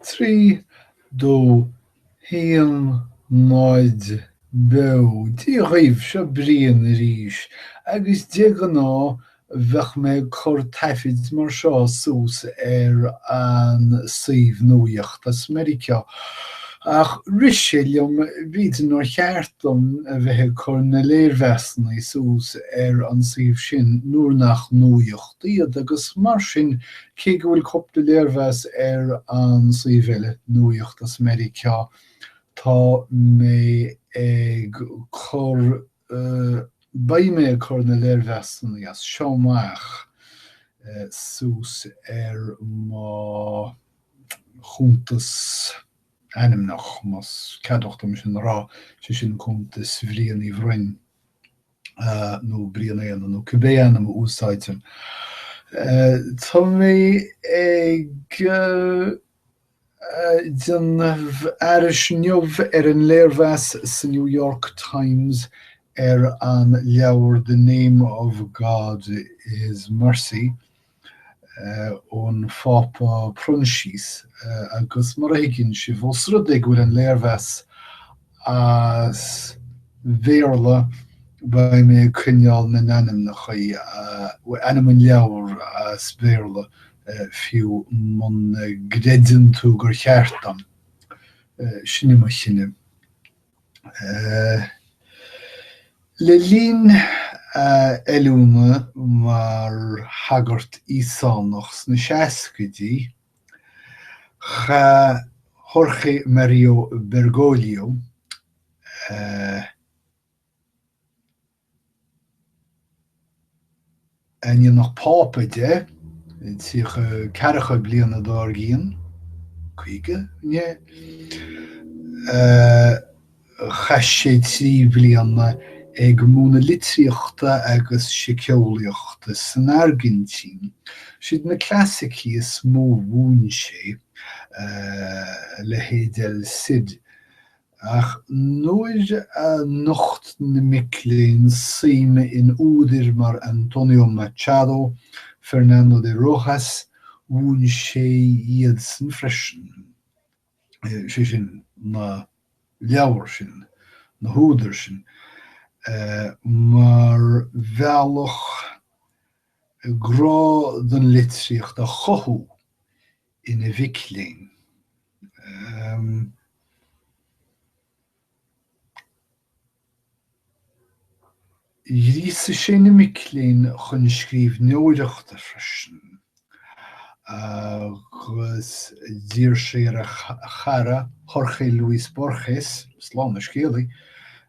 Trí dó haon náid beo Dia dhaoibh, seo Brian arís, agus de ghnáth bheinn ag cur taifid mar seo suas ar an suíomh nuaíocht as Meiriceá, ach rith sé liom, b'fhéidir nár cheart dom a bheith ag cur na léirmheasanna suas ar an suíomh sin nuair nach nuaíocht iad, agus mar sin Cé go bhfuil cúpla léirmheas ar an suíomh eile nuaíocht as Meiriceá, tá mé ag cur, beidh mé ag cur na léirmheasanna as seo amach suas ar mo chuntas ainmneach, más ceadmhach dom sin a rá, sé sin cuntas Bhriain Uí Bhroin. nó Brian Éanna nó cibé ainm a úsáidtear. Tá mé ag déanamh aithris inniu ar an léirmheas sa New York Times ar an leabhar The Name of God is Mercy. ón bPápa Proinsias agus, mar a thuigeann sibh, ós rud é go bhfuil an léirmheas as Béarla, beidh mé ag coinneáil na n-ainmneacha, ainm an leabhar as Béarla, fiú muna gcreideann tú gur cheart dom. Sin é mo chinneadh. Le linn a oiliúna mar shagart Íosánach sna seascaidí, chaith Jorge Mario Bergoglio, a. Ainmníodh Pápa de, tríocha, ceathracha bliana dár gcíonn, caoga, ne? Chaith sé trí bhliana ag múineadh litríochta agus siceolaíochta san Airgintín. Siad na clasaicí is mó a mhúin sé, a leithéid El Cid, Ach nuair a nocht na mic léinn suim in údair mar Antonio Machado, Fernando de Rojas, mhúin sé iadsan freisin, sé sin, na leabhair sin, na húdair sin, mar bhealach grá don litríocht a chothú ina mhic léinn. Ghríosaigh sé na mic léinn chun scríbhneoireachta freisin agus d'iarr sé ar a chara Jorge Luis Borges, slám dá scéalta,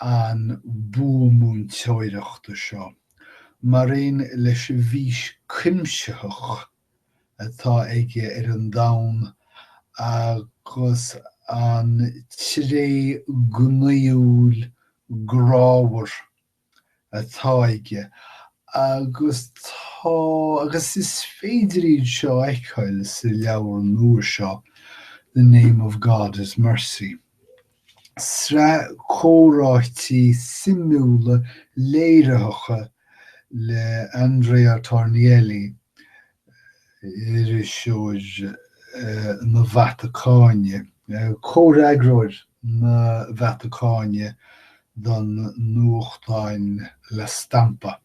an bua múinteoireachta seo, maraon leis an bhfís chuimsitheach atá aige ar an domhan agus an tréith gnaíúil grámhar atá aige, agus tá, agus is féidir iad seo a fheiceáil sa leabhar nua seo, The Name of God is Mercy. sraith comhráití suimiúla léiritheacha le Andrea Tornielli, iriseoir na Vatacáine, comhfhreagróir na Vatacáine don nuachtán La Stampa.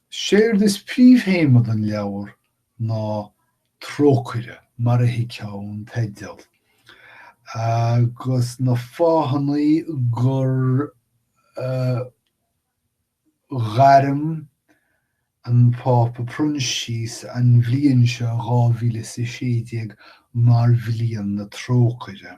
Séard is príomhthéama don leabhar ná Trócaire, mar a thuigfeá ón teideal, agus na fáthanna gur ghairm an Pápa Proinsias an bhliain seo, 2016, mar Bhliain na Trócaire.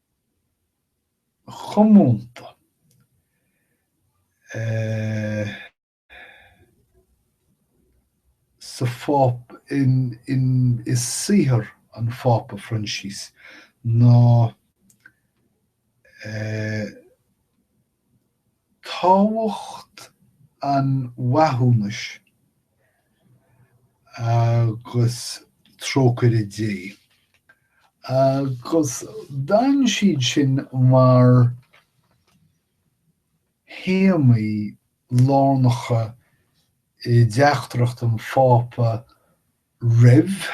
comónta i saothar an Phápa Phroinsias ná. tábhacht an mhaithiúnais agus trócaire Dé, agus d'fhan siad sin mar théamaí lárnacha i dteachtaireacht an Phápa roimh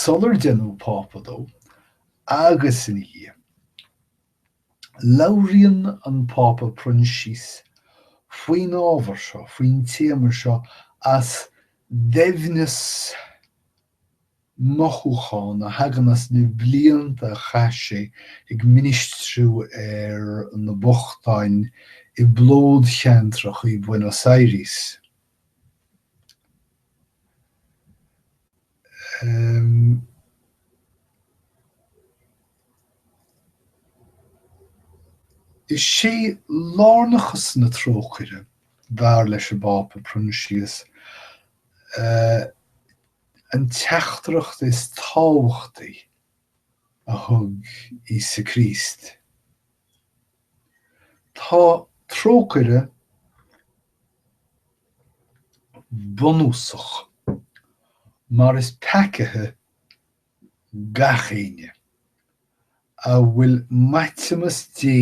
sular deineadh pápa dó agus ina dhiaidh. Labhraíonn an Pápa Proinsias faoin ábhar seo, faoin téama seo as doimhneas mothúchán a thagann as na blianta a chaith sé ag ministriú ar na bochtáin i bplódcheantracha i Buenos Aires. Is é lárnachas na trócaire, dar leis an bPápa Proinsias, an teachtaireacht is tábhachtaí a thug Íosa Críost. Tá trócaire bunúsach, mar is peacaigh gach éinne a bhfuil maithiúnas Dé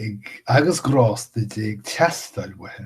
ag agus grásta Dé ag teastáil uathu,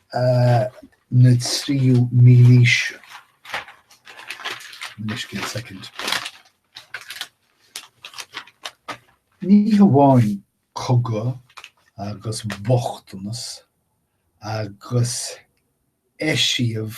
na tríú mílaoise. Ní hamháin cogadh agus bochtanas agus eisiamh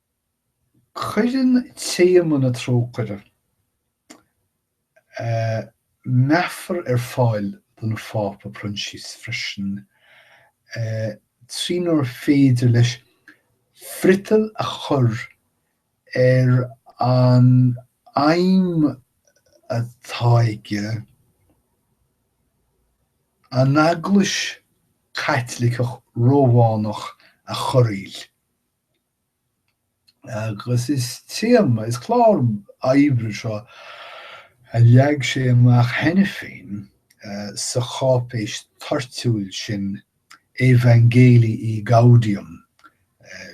Cuireann téama na trócaire meafar ar fáil don Phápa Proinsias freisin trínar féidir leis friotal a chur ar an aidhm atá aige an Eaglais Chaitliceach Rómhánach a chorraíl. agus is téama is clár oibre seo a leag sé amach cheana féin sa cháipéis toirtiúil sin Evangelii Gaudium,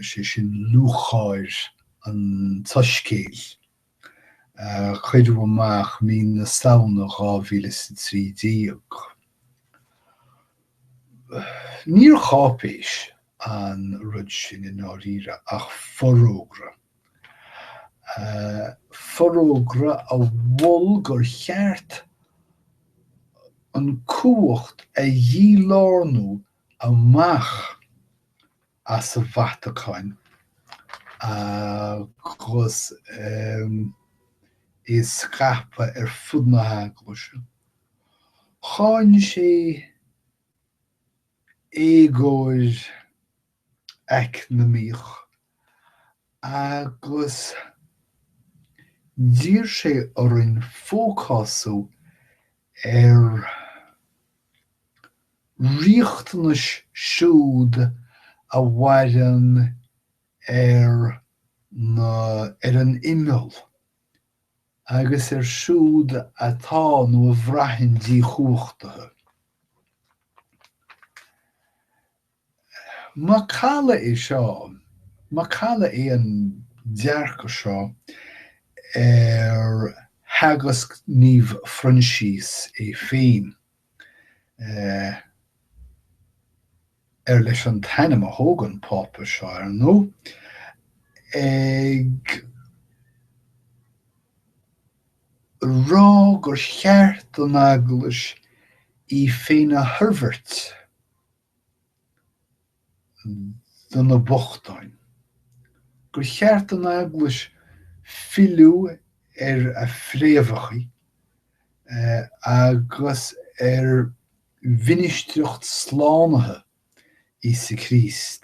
sé sin Lúcháir an tSoiscéil. a cuireadh amach mí na Samhna 2013. Níor cháipéis an rud sin i ndáiríre ach forógra. Forógra a mhol gur cheart an chumhacht a dhí-lárnú amach as an Vatacáin agus í a scaipeadh ar fud na hEaglaise. Cháin sé éagóir eacnamaíoch agus d'iarr sé orainn fócású ar riachtanais siúd a mhaireann ar na ar an imeall agus ar siúd atá nó a bhraitheann díchumhachtaithe. Macalla é seo, macalla é an dearcadh seo ar theagasc Naomh Phroinsias é féin, ar leis an t-ainm a thóg an Pápa seo, ar ndóigh, ag rá gur cheart don Eaglais í féin a thoirbhirt. do na bochtáin, gur cheart don Eaglais filleadh ar a fréamhacha agus ar mhinistreacht slánaithe Íosa Críost.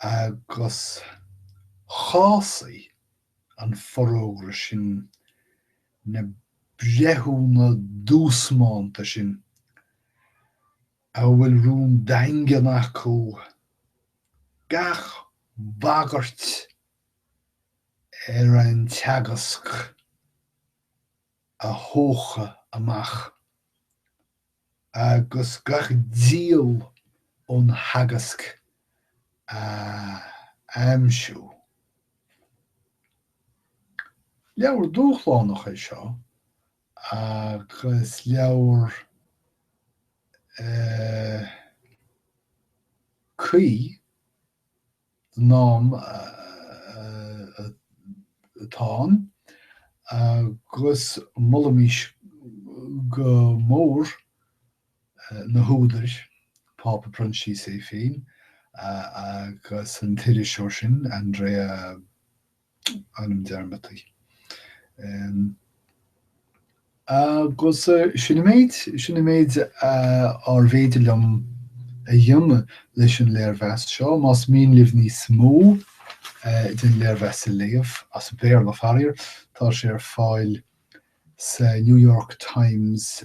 agus chásaigh an forógra sin na breithiúna duasmánta sin a bhfuil rún daingean acu gach bagairt ar an teagasc a thóch amach. agus gach diall ón theagasc a aimsiú. Leabhar dúshlánach é seo agus leabhar cuí. don am atá ann agus molaimis go mór na húdair, Pápa Proinsias é féin agus an t-iriseoir sin, Andrea ainm dearmadta. Agus sin an méid, sin an méid arbh fhéidir liom a dhéanamh leis an léirmheas seo. Más mian libh níos mó den léirmheas a léamh, as Béarla faraor, tá sé ar fáil sa New York Times